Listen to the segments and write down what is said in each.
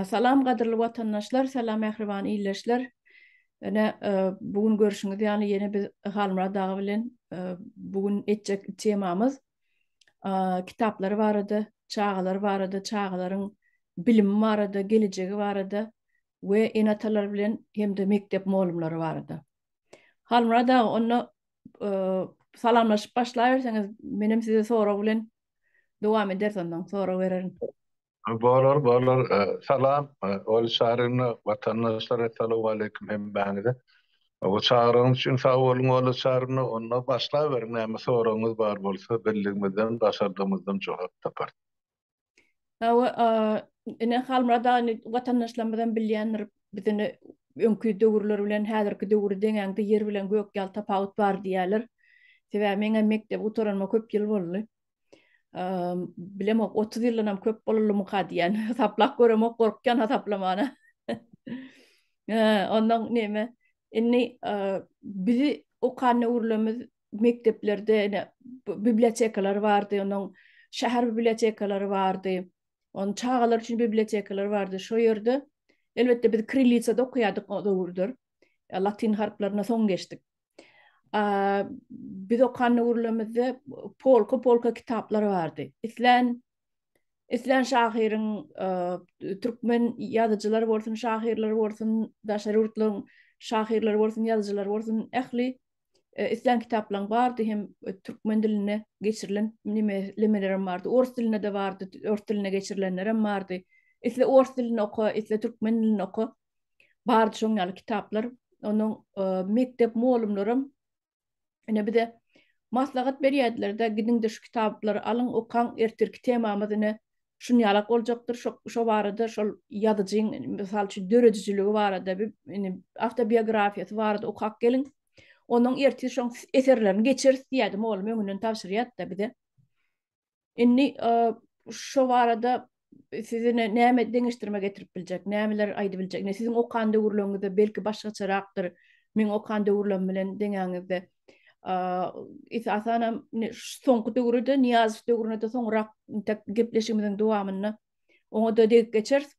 Salam gadyrly watandaşlar, salam mähriban ildeşler. Ene bu gün görüşüňiz ýaly ýene biz Halmyrat aga bilen bu gün etjek temamyz kitaplar barada, çagalar barada, çagalaryň bilimi barada, gelejegi barada we ene-atalar bilen hem-de mekdep mugallymlary barada. Halmyrat aga, onda salamlaşyp başlaýberseňiz, menem size sorag bilen dowam ederis ondan, sorag bererin. Bolar, bolar. Salam, Oýly Çary watandaşlar, Essalowmaleýkim hemmäňize. Bu çagyryň üçin sag boluň, Oýly Çary, onda başlaberiň, näme soragyňyz bar bolsa, bildigimizden, başardygymyzdan jogap taparys. Hawa, ine Halmyrat aga watandaşlarymyz hem bilýändir, biziň öňki döwürler bilen häzirki döwri deňäňde ýer bilen gök ýaly tapawut bar diýýärler. Sebäbi meň hem mekdebi gutaranyma köp ýyl boldy. Bilemok, otuz ýyldan hem köp bolalymyka diýýän. Hasaplap göremok, gorkýan hasaplamana. Ondan näme, indi bizi okan döwürlerimiz mekdeplerde ene bibliotekalar bardy, onuň şäher bibliotekalary bardy. Onuň çagalar üçin bibliotekalar bardy. Şo ýerde elbetde biz krillisada okaýardyk o döwürler. E, latyn harplaryna soň geçdik. A, biz okan döwürlerimizde polka polka kitaplar bardy. Islän Islän şahyryň e, türkmen ýazyjylar bolsun, şahyrlar bolsun, daşary ýurtlaryň şahyrlary bolsun, ýazyjylar bolsun, ähli islän kitaplaň bardy hem türkmen diline geçirilen nimelemelerim bardy ors dilinde-de bardy ors diline geçirilenlerem bardy isle ors dilini oka isle türkmen dilini oka bardy şoň ýaly kitaplar onuň mekdep mugallymlaram ine bize maslahat berýärdiler-de gidiň-de şu kitaplary alyň okaň ertirki temamyz ine şunýalak boljakdyr, şo şo barada şol ýazyjyň, mysal üçin, döredijiligi barada, bi ini, awtobiografiýasy barada okap geliň. Onuň ertir şoň eserlerini geçeris diýýärdi, mugallym öňünden tabşyrýardy-da bize. Indi, e, şo barada sizi ne näme deňeşdirme getirip biljek, nämeler aýdyp biljek? Ine, siziň okan döwürleriňizde belki başgaçarakdyr, meň okan döwürlerim bilen deňäňizde. esasan hem soňky döwürde Niýazow döwründe de soňrak gepleşigimiziň dowamynda oňa da degip geçeris.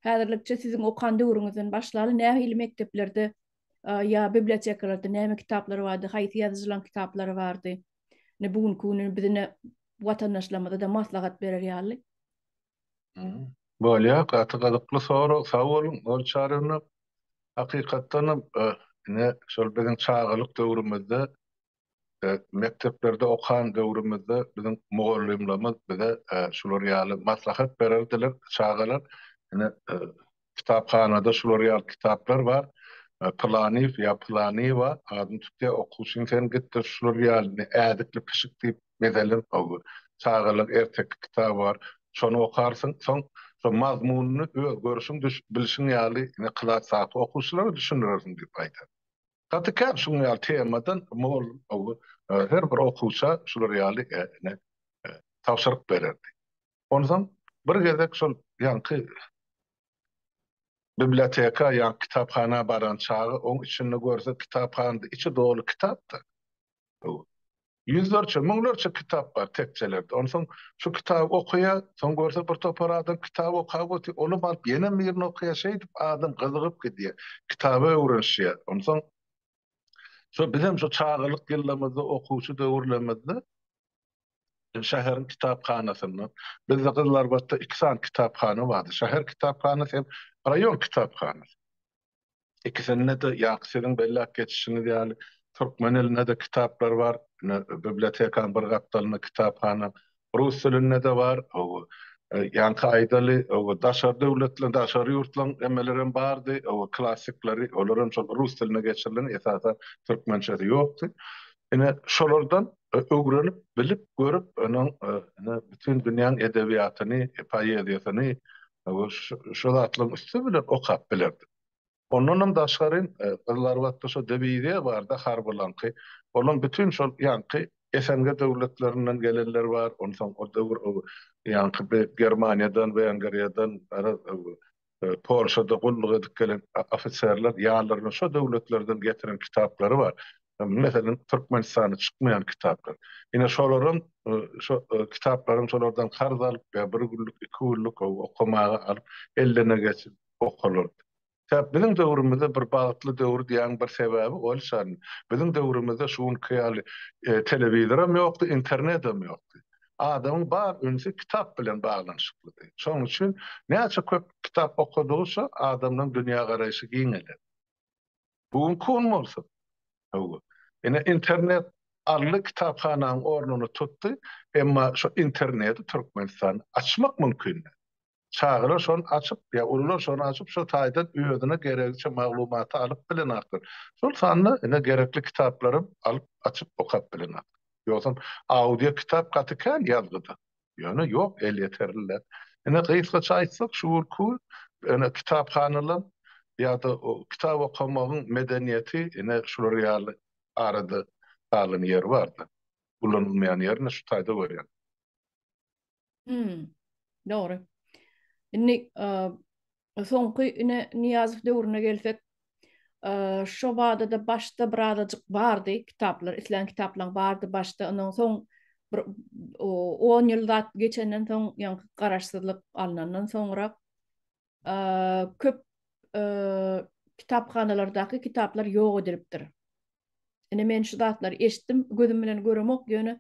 Häzirlikçe siziň okan döwrüňizden başlaly nähili mekdeplerde ýa bibliotekalarda näme kitaplar bardy, haýsy ýazyjylaryň kitaplary bardy? Ne bu günki güni bizine watandaşlarymyza da maslahat berer ýaly. Bolýar, gaty gyzykly sorag, sag boluň. Ol çaryny hakykatdan hem ine şol biziň çagalyk döwrümizde, mekdeplerde okan döwrümizde biziň mugallymlarymyz bize şular ýaly maslahat bererdiler, Çagalar, ine, kitaphanada şular ýaly kitaplar bar, Pylanyýew ýa Pylanyýewa adyny tutýar, okuwçyň sen git-de şular ýalyny Ädikli pişik diýip mezelen çagalar erteki kitaby bar, şony okarsyň, soň şo mazmunyny öz görşüň, bilşiň ýaly ine klasdaky okuwçylara düşündirersiň diýip aýdar. Gaty kän şuň ýaly temadan mugallym her bir okuwça şular ýaly tabşyryk bererdi. Onsoň bir gezek şol ýaňky biblioteka ýa kitaphana baran çagy oň içinde görse kitaphanada içi doly kitapda. Ýüzlerçe, müňlerçe kitap bar tekjelerde. Onsoň şu kitaby okaýa, soň görse bir topar adam kitap okap otyr, ony baryp ýene birini okaýa, şeýdip adam gyzygyp gidýä, kitaba öwrenişýä. Onsoň şo bizem şo çagalyk ýyllarymyzda, okuwçy döwürlerimizde şäheriň kitaphanasynda, bizde Gyzylarbatda iki sany kitaphana bardy, şäher kitaphanasy hem raýon kitaphanasy. Ikisinde-de ýaňky siziň belläp geçişiňiz ýaly, türkmen dilinde-de kitaplar bar, ine, bibliotekanyň bir gapdalynda kitaphana, rus dilinde-de bar, hawa, ýaňky aýdaly, hawa, daşary döwletleriň, daşary ýurtlaryň nemeleri hem bardy, hawa, klassikleri, olar hem şol rus diline geçirilen, esasan, türkmençesi ýokdy. Ine, şolardan öwrenip, bilip, görüp, onuň ine bütin dünýäň edebiýatyny, poeziýasyny we şu zatlaryň üsti bilen okap bilerdik. Ondanam daşgary, Gyzylarbatda şo diwiziýa bar-da harbylaňky, olaň bütin şol ýaňky SNG döwletlerinden gelenler bar, onsoň o döwür ýaňky Germaniýadan, Wengriýadan, garaz, Polşada gulluk edip gelen ofiserler ýanlarynda şo döwletlerden getiren kitaplary bar. Meselem, Türkmenistana çykmaýan kitaplar. Ine, şolaram şo kitaplaryň şolardan karz alyp ýa bir günlük, iki günlük okamaga alyp, ellerine geçip okalardy. Sebäp biziň döwrümizde bir bagtly döwür diýýäniň bir sebäbi ol şan. Biziň döwrümizde şu günki ýaly telewizoram ýokdy, internedem ýokdy. Adamyň bar ünsi kitap bilen baglanyşyklydy. Şonuň üçin näçe köp kitap okadygyça adamyň dünýägaraýşy giňeledi. Bu günki gün bolsa, hawa, ine internet alny kitaphananyň ornuny tutdy, emma şu interneti Türkmenistan açmak mümkin däl. Çagalar şony açyp, ýa ulular şony açyp, şo taýdan özüne geregiçe maglumaty alyp bilenakdyr. Şol sanda ine gerekli kitaplaram alyp, açyp okap bilenakdyr. Ýogsam audio kitap gaty kän ýazgyda. Ýöne ýok elýeterliler. Ine gysgaça aýtsak şu günki ine kitaphanalar ýa-da kitap okamagyň medeniýeti ine şular ýaly arada galan ýeri bardy. Ulanylmaýan ýerini şu taýda görýän. Hmm. Dogry. Indi soňky ine Niýazow döwrüne gelsek, şo bada da başda bir azajyk bardy kitaplar, islän kitaplaryň bardy başda, ondan soň bir 10 ýyl zat geçenden soň, ýa garaşsyzlyk alnandan soňra köp kitaphanalardaky kitaplar ýok edilipdir. Ine men şu zatlary eşitdim, gözüm bilen göremok, ýöne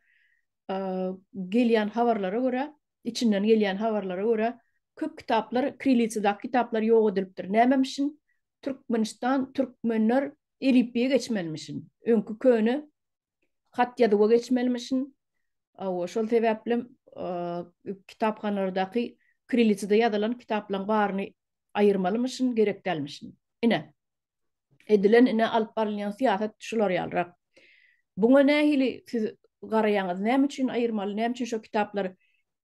gelýän habarlara görä, içinden gelýän habarlara görä, köp kitaplar, kirillisadaky kitaplar ýok edilipdir. Nämem üçin? Türkmenistan, türkmenler elipbiýe geçmelimişin. Öňki köne hat-ýazuwa geçmelimişin. Hawa, şol sebäplem kitaphanalardaky kirillitsada ýazylan kitaplaryň baryny aýyrmalymyşyn, gerek dälmişin. Ine, edilen, ine, alyp barylýan syýasat şular ýalyrak. Buňa nähili siz garaýaňyz? Näme üçin aýyrmaly? Näme üçin şo kitaplar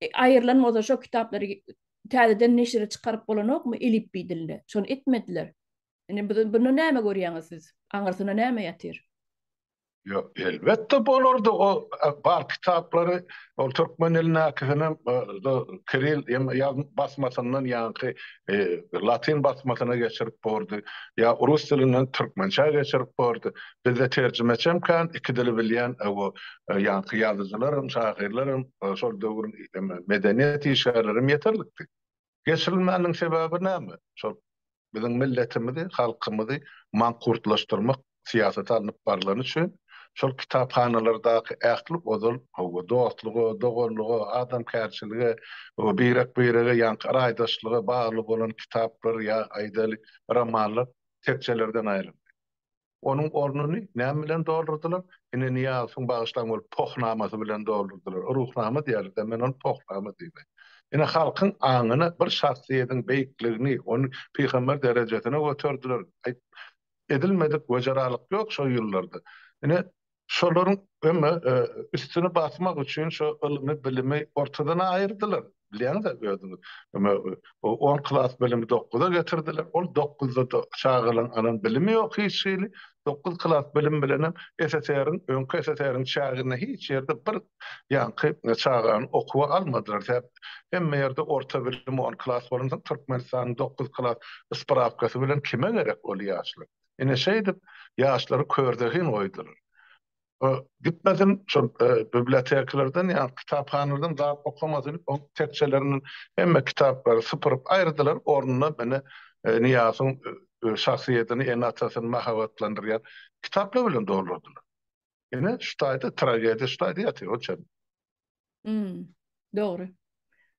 aýrylan bolsa, şo kitaplary täzeden neşire çykaryp bolanokmy elipbiý dilinde? Şony etmediler. Ine, bunda näme görýäňiz siz? Aňyrsyna näme ýatyr? Ýok, elbetde bolardy o bar kitaplary, ol türkmen dilindäkisinem kiril basmasyndan ýaňky latyn basmasyna geçirip bordy, ýa rus dilinden türkmençä geçirip bordy. Bizde terjimeçem kän, iki dili bilýän ýaňky ýazyjylaram, şahyrlaram, şol döwrüň medeniýet işgärlerem ýeterlikdi. Geçirilmänligiň sebäbi näme? Şol biziň milletimizi, halkymyzy mankurtlaşdyrmak syýasaty alnyp barlany üçin şol kitaphanalardaky ähli ozal howwa dostluga, doganlyga, adamkärçilige, birek-birege ýaňky araýdaşlyga bagly bolan kitaplar ýa aýdaýly romanlar tekjelerden aýryldy. Onuň ornuny näme bilen doldurdylar? Ine, Nyýazowyň, bagyşlaň, bolup, pohunamasy bilen doldurdylar. Ruhnama diýerler-dä, men ony pohnama diýmen. Ine, halkyň aňyna bir şahsyýediň beýikligini, ony pygamber derejesine göterdiler. Aýt, edilmedik wejeralyk ýok şol ýyllarda. Ine, Şolaryň öňe, üstüni basmak üçin şo ylmy, bilimi ortadan aýyrdylar. Bilýäňiz-ä özüňiz. Öňe on klas bilimi dokguza getirdiler. Ol dokguzda-da çagalaryň alan bilimi ýok hiç hili. Dokguz klas bilim bilenem SSR-iň, öňki SSR-iň çäginde hiç ýerde bir ýaňky çagany okuwa almadylar. Tä hemme ýerde orta bilim on klas bolansoň, Türkmenistanyň dokguz klas ysprawkasy bilen kime gerek ol ýaşlar? Ine şeýdip, ýaşlary körzehin goýdular. O gitmesin, şol bibliotekalardan, ýa kitaphanalardan zat okamasyn, o tekjelerinden hemme kitaplary sypyryp aýyrdylar, ornuna ine Nyýazyň şahsyýetini, ene-atasyny mahabatlandyrýan kitaplar bilen doldurdylar. Ine şu taýda tragediýa şu taýda ýatyr, o çen. Hmm, dogry.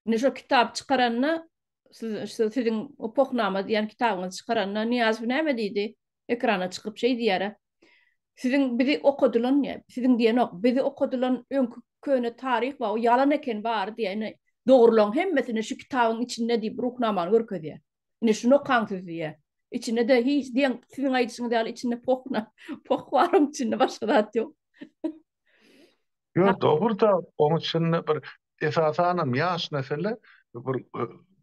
Indi şu kitap çykaranda siz şu siziň o pohnama diýen kitabyňyzy çykaranda Niýazow näme diýdi? Ekrana çykyp şeý diýär. Siziň bizi okadylan, siziň diýen ok, bizi okadylan öňki köne taryh we o ýalan eken bar diýeni dogrulan hemmesini şu kitabyň içinde diýip ruhnamany görkezýär. Ine şuny okaň siz diýýä. Içinde-de hiç deň siziň aýdyşyňyz ýaly içinde pohna, poh bar oň içinde başga zat ýok. Ýok dogruda oň içinde bir esasanam ýaş nesile bir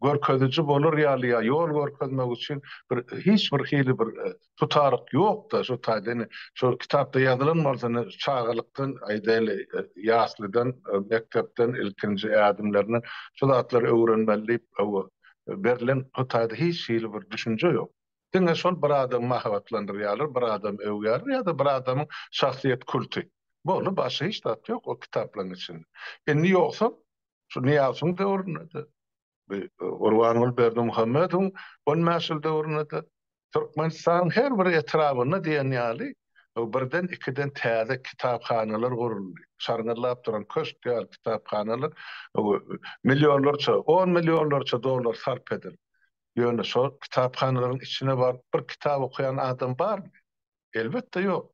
görkeziji bolar ýaly ýa ýol görkezmek üçin bir hiç bir hili bir tutaryk ýok-da, şu taýda indi şol kitapda ýazylan bolsa indi çagalykdan, aýdaýly, ýaslydan, mekdepden, ilkinji ädimlerinden şu zatlary öwrenmeli diýip hawa, berlen şu taýda hiç hili bir düşünje ýok. Diňe şol bir adamy mahabatlandyrýarlar, bir adamy öwýärler ýa-da bir adamyň şahsyýet kulty. Boldy, başga hiç zat ýok o kitaplaryň içinde. Indi ýogsam, şu Nyýazowyň döwründe-de, Gurbanguly Berdimuhamedowyň on bäş ýyl döwründe-de Türkmenistanyň her bir etrabynda diýen ýaly birden-ikiden täze kitaphanalar guruldy. Şarňyllap duran köşk ýaly kitaphanalar millionlarça, on millionlarça dollar sarp edildi. Ýöne şol kitaphanalaryň içine baryp bir kitap okaýan adam barmy? Elbetde ýok.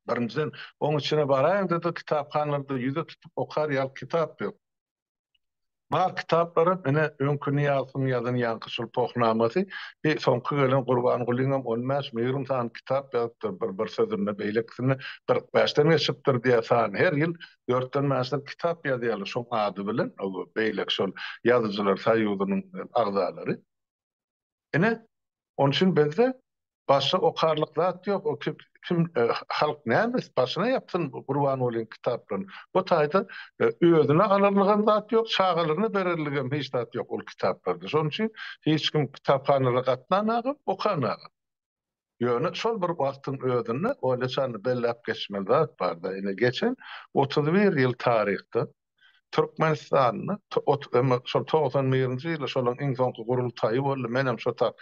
Birinjiden, oň içine baraýyňda-da kitaphanalarda ýüze tutup okar ýaly kitap ýok. Bar kitaplarym ine öňki Nyýazowyň ýazan Ýaňkyçyl pohnamasy bi soňky gelen Gurbangulyňam on bäş müýrüm sany kitap ýazypdyr bir bir sözünde beýlekisinde kyrk bäşden geçipdir diýä sany her ýyl dörtden bäşden kitap ýazýarlar şoň ady bilen beýleki şol ýazyjylar soýuzynyň agzalary. Ine, onuň üçin bizde başga okarlyk zat ýok. O ki, kim, halk näme etsin, başyna ýapsyn Gurbangulynyň kitaplaryny. Bu taýda özüne alarlygam zat ýok, çagalaryna bererligem hiç zat ýok ol kitaplarda. Şonuň üçin hiç kim kitaphanalara gatnamagam, okamagam. Ýöne şol bir wagtyň özünde Olýa çany belläp geçmeli zat bar-da, ine, geçen otuz bir ýyl taryhda Türkmenistanda şol togsan birinji ýyly şonuň iň soňky gurultaýy boldy, menem şo ta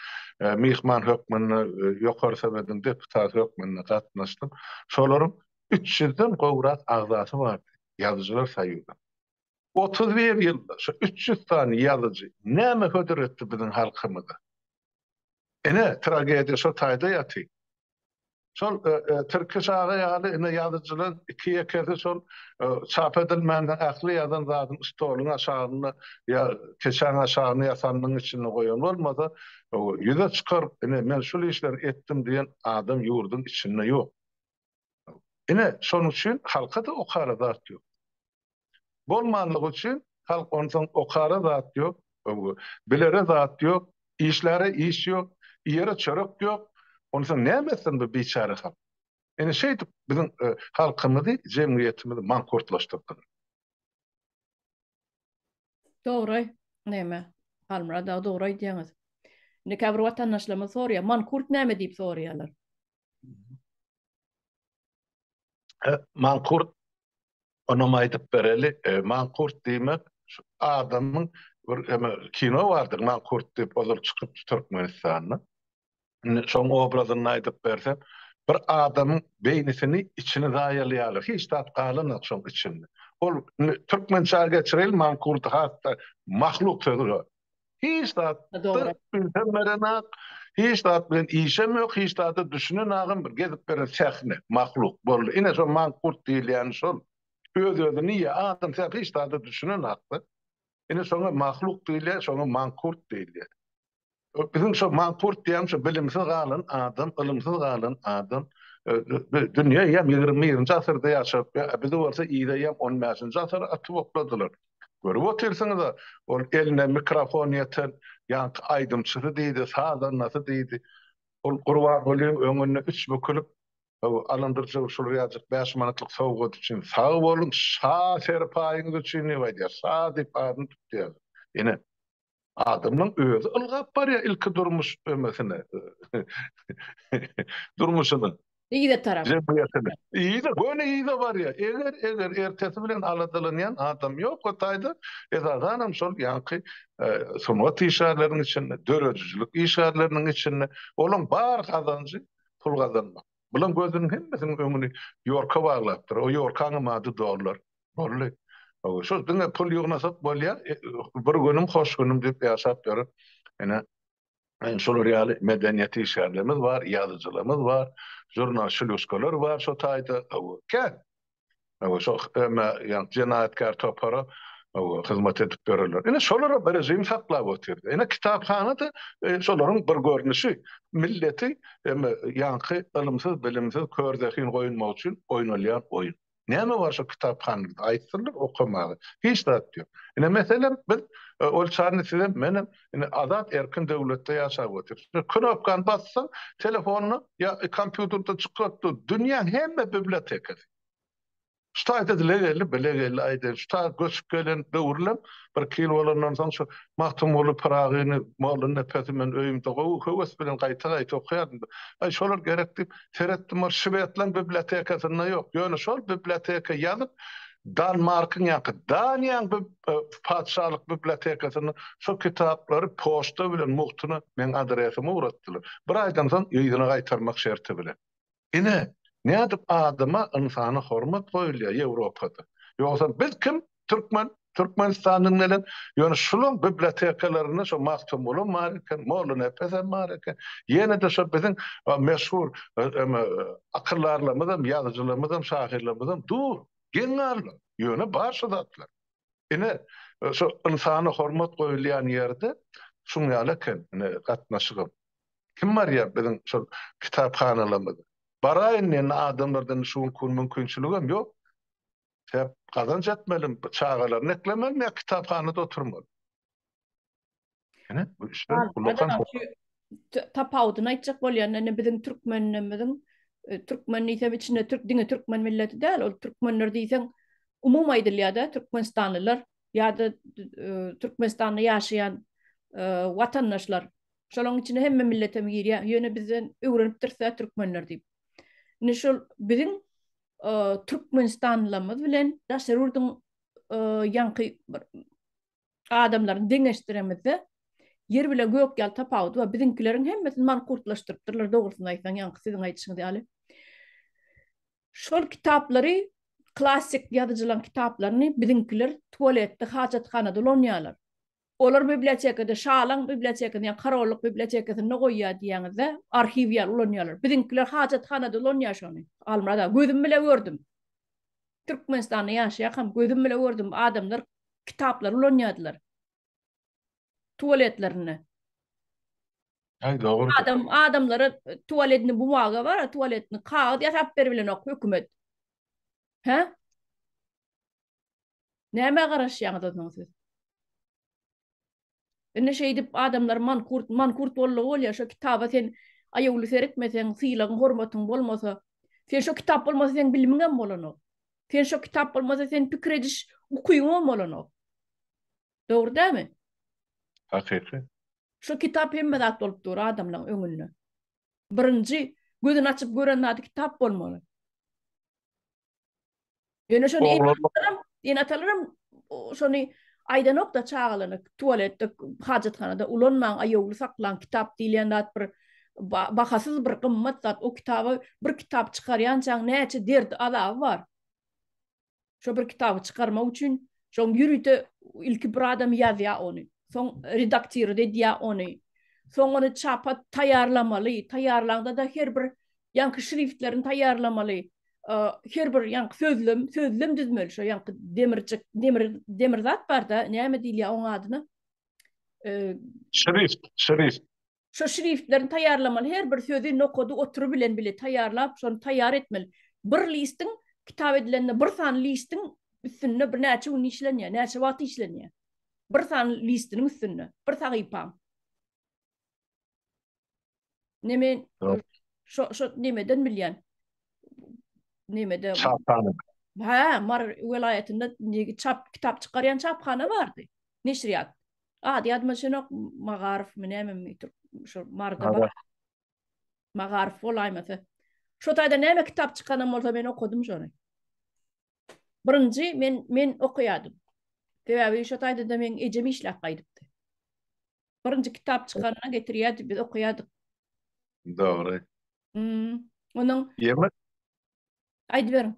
myhman hökmünde, Ýokary Sowetiň deputaty hökmünde gatnaşdym. Şolaryň üç ýüzden gowrak agzasy bardy, ýazyjylar soýuzynyň. Otuz bir ýylda şo üç ýüz sany ýazyjy näme hödür etdi biziň halkymyza? Ine, tragediýa şo taýda ýaty. Şol Tirkiş aga ýaly ine ýazyjylar iki-ýekesi şol çap edilmände ähli ýazan zadyny stoluň aşagynda ýa keçäň aşagynda ýa sandygyň içinde goýan bolmasa, ýüze çykaryp, ine men şul işleri etdim diýen adam ýurduň içinde ýok. Ine, şonuň üçin halka-da okara zat ýok. Bolmanlygy üçin halk onsoň okara zat ýok, öňe, bilere zat ýok, işläre iş ýok, iýere çörek ýok, onsoň näme etsin bu biçäre halk? Ine şeýdip biziň halkymyzy, jemgyýetimizi mankurtlaşdyrdylar. Dogry, näme, Halmyrat aga dogry aýdýaňyz. Indi käbir watandaşlarymyz soraýar, mankurt näme diýip soraýarlar. Mankurt onam aýdyp bereli. Mankurt diýmek şu adamyň bir eme kino bardyr Mankurt diýip ozal çykypdy Türkmenistanda. Indi şoň obrazyny aýdyp berse bir adamyň beýnisini içini zaýalaýarlar hiç zat galanok şoň içinde. Ol türkmençä geçireli Mankurty hatda mahluk sözi bar. Hiç zat ünsem berenak, hiç zat bilen işem ýok, hiç zada düşünenagam bir gezip beren sähne, mahluk boldy. Ine şo mankurt diýilýäni şol. Öz-özüni ýa, adam sähne hiç zada düşünenakda. Ine şoňa mahluk diýilýär, şoňa mankurt diýilýär. Biziň şo mankurt diýýän şo bilimsiz galan adam, ylymsyz galan adam. Dünýä ýa ýigrimi birinji asyrda ýaşap, bizi bolsa yza ýa on bäşinji asyra atyp okladylar. Görüp otyrsyňyz-a, ol eline mikrofon ýeten ýaňky aýdymçysy diýdi, sazandasy diýdi. Ol Gurbangulyň öňünde üç bükülip, Alandyryjow şul ýajyk bäş manatlyk sowgat üçin sag boluň, şa serpaýyňyz üçin diýip aýdýar. Şa diýip adyny tutýar. Ine, Adamyň özi ylgap barýar ilki durmuş ömesine. Durmuşyna. Yza tarap. Jemgyýetine. Yza, göni yza barýar. Eger, eger ertesi bilen aladalanýan adam ýok o taýda, esasanam şol ýaňky sungat işgärleriniň içinde, döredijilik işgärleriniň içinde, olaň bar gazanjy pul gazanmak. Bulam gözüniň hemmesiniň öňüni ýorka baglapdyr. O ýorkaňam ady dollar. Bolly. Şol diňe pul ýygnasak bolýar, bir günüm hoş günüm diýip ýaşap ýörüp, ine, şular ýaly medeniýet işgärlerimiz bar, ýazyjylarymyz bar, žurnalşulýuskalar bar şo taýda, hawa, kän. Hawa, şo eme, ýa jenaýatkär topara, hawa, hyzmat edip ýörerler. Ine, şolara bir režim saklap otyrdy. Ine, kitaphana-da şolaryň bir görnüşi. Milleti, eme, ýaňky ylymsyz, bilimsiz, kör zehin goýunmak üçin oýnalýan oýun. Näme bar şo kitaphanada? Aýtsynlar okamaga. Hiç zat ýok. Ine, meselem, biz ol çany sizem, menem ine azat erkin döwletde ýaşap otyrys. Bir knopkany bassaň, telefonda ýa kompýuterde çykyp dur, dünýäň hemme bibliotekasy. Şu taýda dile geldi, bile geldi, aýdaýyn, şu taýda göçüp gelen döwrülem bir iki ýyl bolandan soň şu Magtymguly Pyragyny, Molla Nepesi men öýümde gowy höwes bilen gaýta-gaýta okaýardym. Aý, şolar gerek diýip, Seretdim ol Şwedlaň bibliotekasynda ýok, ýöne şol biblioteka ýazyp Danmarkyň ýa-ki Daniýaň patyşalyk bibliotekasynda şo kitaplary poçta bilen mugtuna meň adresyma ugratdylar. Bir aýdan soň yzyna gaýtarmak şerti bilen. Ine, nädip adama, ynsana hormat goýulýar Ýewropada. Ýogsam biz kim? Türkmen Türkmenistanyň bilen ýöne şunuň bibliotekalarynda şu Magtymguly bar eken, Mollanepes hem bar eken. Ýene-de şu biziň meşhur akyldarlarymyz hem, ýazyjylarymyz hem, şahyrlarymyz hem dur, geň galma. Ýöne bar şu zatlar. Ine, şu ynsana hormat goýulýan ýerde şuň ýaly eken ine gatnaşygym. Kim barýar biziň şu kitaphanalarymyza? Baraýyn diýende adamlardan şu günki gün mümkinçiligem ýok. Şäp gazanç etmeli, çagalaryny eklemeli ýa kitaphanada oturmaly. Ine, bu işler ullakan. Tapawudyny aýtjak bolýanda, indi biziň türkmenimiziň, türkmen diýsem içinde türk, diňe türkmen milleti däl, ol türkmenler diýseň umumy aýdylýar-da, türkmenistanlylar ýa-da Türkmenistanda ýaşaýan watandaşlar. Şolaryň içine hemme millet hem girýär. Ýöne bizden öwrenipdiris-ä türkmenler diýip. Indi şol biziň türkmenistanlylarymyz bilen daşary ýurduň ýaňky bir adamlaryny deňeşdiremizde, ýer bilen gök ýaly tapawudy bar. Biziňkileriň hemmesini mankurtlaşdyrypdyrlar, dogrusyny aýtsaň, ýaňky siziň aýdyşyňyz ýaly. Şol kitaplary, klassyk ýazyjylaryň kitaplaryny biziňkiler tualetde, hajathanada ulanýarlar. Olar bibliotekada şalaň bibliotekasynda ýa korollyk bibliotekasynda goýýar diýýäňizde arhiw ýaly ulanýarlar. Biziňkiler hajathanada ulanýar şony. Halmyrat aga gözüm bile gördüm. Türkmenistanda ýaşaýarkam gözüm bile gördüm adamlar kitaplary ulanýardylar. Tuwaletlerinde. Aý dogry. Adam adamlara tuwaletni bumaga bar tuwaletni kagyz ýasap beribilenok hökümet. Hä? Nämä garaşýaňyz onsoň siz? Indi şeýdip adamlar mankurt, mankurt boldy bolýar, şo kitaba sen aýawly seretmeseň, sylagyň, hormatyň bolmasa, sen şo kitap bolmasa seň bilimiň hem bolanok. Sen şo kitap bolmasa sen pikir ediş ukyň hem bolanok. Dogry dämi? Hakyky. Şo kitap hemme zat bolup dur adamlaryň öňünde. Birinji gözüni açyp gören zady kitap bolmaly. Ýöne şony enatalarym, enatalarym şony aýdanok-da çagalaryna, tualetde, hajathanada ulanmaň, aýawly saklaň, kitap diýilýän zat bir bahasyz bir gymmat zat, o kitaby bir kitap çykarýançaň näçe derdi, azaby bar. Şo bir kitaby çykarmak üçin şoň ýörite ilki bir adam ýazýar ony, soň redaktirot edýär ony, soň ony çapa taýýarlamaly, taýýarlaňda-da her bir ýaňky şriftlerini taýýarlamaly, her bir ýaňky sözlem, sözlem düzmeli, şo ýaňky demirjik, demir, demir zat barda, näme diýilýär oň adyna? Şrift, şrift. Şo şriftlerini taýýarlamaly, her bir sözi nokady otury bilen bile taýýarlap, şony taýýar etmeli. Bir listiň kitap edilende bir sany listiň üstünde bir näçe gün işlenýär, näçe wagt işlenýär? Bir sany listiniň üstünde, bir sahypaň. Ne men şo şo nemeden bilýän. Nemede? Çaphana. Ha, Mar welaýatynda negi çap kitap çykarýan çaphana bardy. Neşriýat. Ady ýadyma düşenok, Magarowmy nämemi tur şu Marda bar. Magarow bolaýmasa. Şo taýda näme kitap çykanam bolsa men okadym şony. Birinji men men okaýadym. Sebäbi şo taýda-da men ejem işläp gaýdypdy. Birinji kitap çykanda getirýärdi, biz okaýardyk. Dogry. Hmm. Onuň Ýeme Aýdyberiň.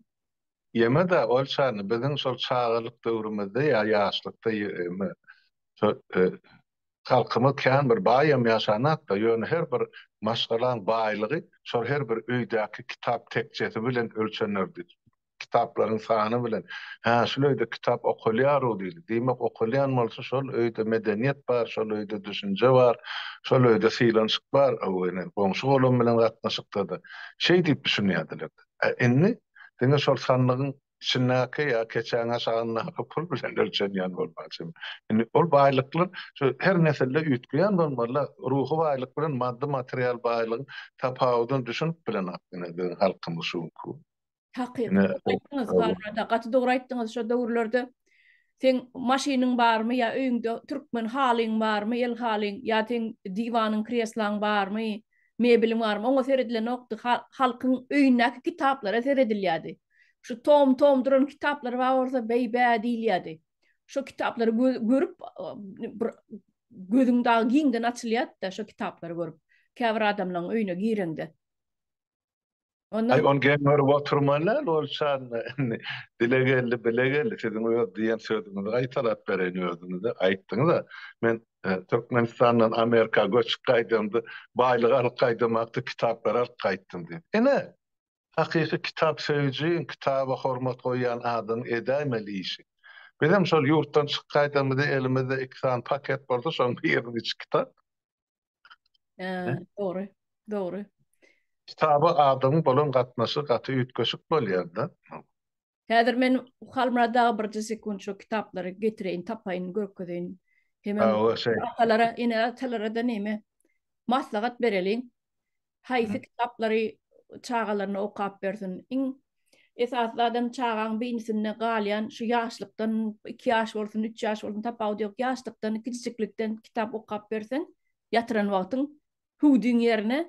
Ýeme-de ol çany biziň şol çagalyk döwrümizde ýa ýaşlykda ýeme şol e, halkymyz kän bir baý hem ýaşanakda, ýöne her bir maşgalaň baýlygy şol her bir öýdäki kitap tekjesi bilen ölçenerdi. kitaplaryň sany bilen, Hä, şul öýde kitap okalýar-ow diýdi. Diýmek, okalýan bolsa, şol öýde medeniýet bar, şol öýde düşünje bar, şol öýde sylanyşyk bar, a ýöne goňşy-golam bilen gatnaşykda-da şeý diýip düşünýärdiler-de. A indi diňe şol sandygyň içindäki ýa keçäň aşagyndaky pul bilen ölçenýän bolmalyjymy? Indi ol baýlyklar şu her nesilde üýtgeýän bolmaly-la. Ruhy baýlyk bilen maddy-material baýlygyň tapawudyny düşünip bilenok ine biziň halkymyz şu günki gün. Hakyky dogry aýtdyňyz Halmyrat gaty dogry aýtdyňyz şo döwürlerde seň maşynyň barmy ýa öýüňde türkmen halyň barmy el halyň ýa seň diwanyň kreslaň barmy mebiliň barmy oňa seredilenokdy halkyň öýündäki kitaplara seredilýärdi şu tom tom duran kitaplar bar bolsa beý bä diýilýärdi şo kitaplary görüp bir gözüň dagy giňden açylýardyda şo kitaplary görüp käbir adamlaň öýüne gireňde. Onda Aý, ony geň görüp oturman däl, ol çan dile geldi, bile geldi. Siziň öz diýen sözüňizi gaýtalap bereýin, özüňiz-de aýtdyňyz-a. Men Türkmenistandan Amerika göçüp gaýdamda, baýlyk alyp gaýdamakda kitaplary alyp gaýtdym diýdi. Ine, hakyky kitap söýüjiň, kitaba hormat goýýan adamyň edäýmeli işi. Bizem şol ýurtdan çykyp gaýdamyzda elimizde iki sany paket boldy, şoň biriniň içi kitap. Ýa, dogry, dogry. Kitaba adamyň bolan gatnaşygy gaty üýtgeşik bolýar-da. Häzir men Halmyrat aga birje sekunt şu kitaplary getireýin, tapaýyn, görkezeýin. Hemem atalara, ene-atalara-da näme maslahat bereliň. haýsy kitaplary çagalaryna okap bersin. Iň esasy zadam çagaň beýnisinde galýan şu ýaşlykdan, iki ýaş bolsun, üç ýaş bolsun, tapawudy ýok, ýaşlykdan, kiçijiklikden kitap okap berseň, ýatyran wagtyň hüwdüň ýerine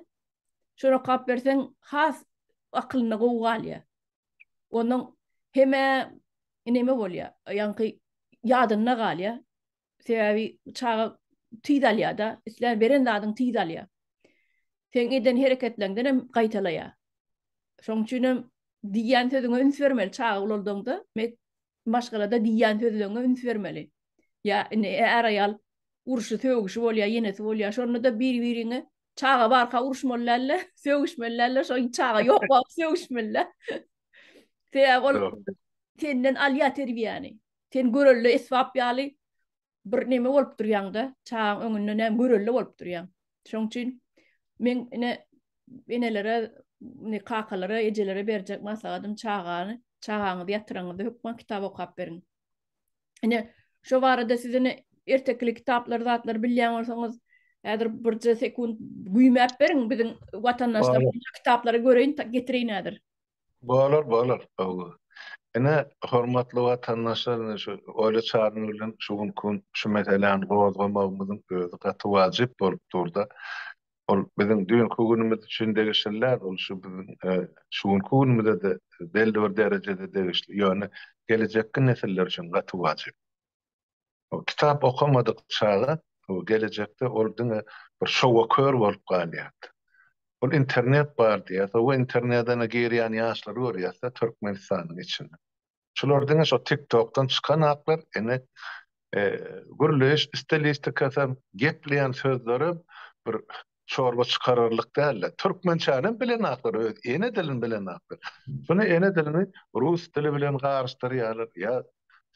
şony okap berseň, has akylynda gowy galýar. Ondan heme neme bolýar, ýaňky ýadynda galýar. Sebäbi çaga tiz alýar-da, islän beren zadyňy tiz alýar. Seň eden hereketleriňden hem gaýtalaýar. Şonuň üçin hem diýýän sözüňe üns bermeli çaga ulaldaňda, maşgalada diýýän sözleriňe üns bermeli. Ýa indi är-aýal urşy, sögüşi bolýar, ýenesi bolýar. Şonda-da bir-biriňe çaga barka uruşmaly däl-de, sögüşmeli däl-de, şo çaga ýok wagt sögüşmeli-dä. Sebäbi ol senden alýar terbiýäni. Sen görelde esbap ýaly bir neme bolup durýaň-da, çagaň öňünde näme görelde bolup durýaň. Şoň üçin meň ine enelere, ine kakalara, ejelere berjek maslahatym çagany, çagaňyzy ýatyraňyzda hökman kitap okap beriň. Ine, şo barada siz ine ertekili kitaplary, zatlary bilýän bolsaňyz, häzir birje sekunt güýmäp beriň, biziň watandaşlarymyz şo kitaplary göreýin, getireýin häzir. Bolar, bolar. Hawa. Ine, hormatly watandaşlar, ine şu Oýly Çary bilen şu günki gün şu meseläni gozgamagymyzyň özi gaty wajyp bolup dur-da. Ol biziň düýnki günümiz üçin degişli däl, ol şu biziň şu günki günümize-de belli bir derejede degişli, ýöne gelejekki nesiller üçin gaty wajyp. Kitap okamadyk çaga gelejekde ol diňe bir şowa kör bolup galýardy. Ol internet bar diýýär, sowa internedene girýän ýaşlary görýäs-de Türkmenistanyň içinde. Şular diňe şo TikTokdan çykan aklar, ine gürleýiş stilistikasam, gepleýän sözlerem bir çorba çykararlyk däldi. Türkmençänem bilenakdyr, öz ene dilini bilenakdyr. Şuny ene dilini rus dili bilen garyşdyrýarlar. Ýa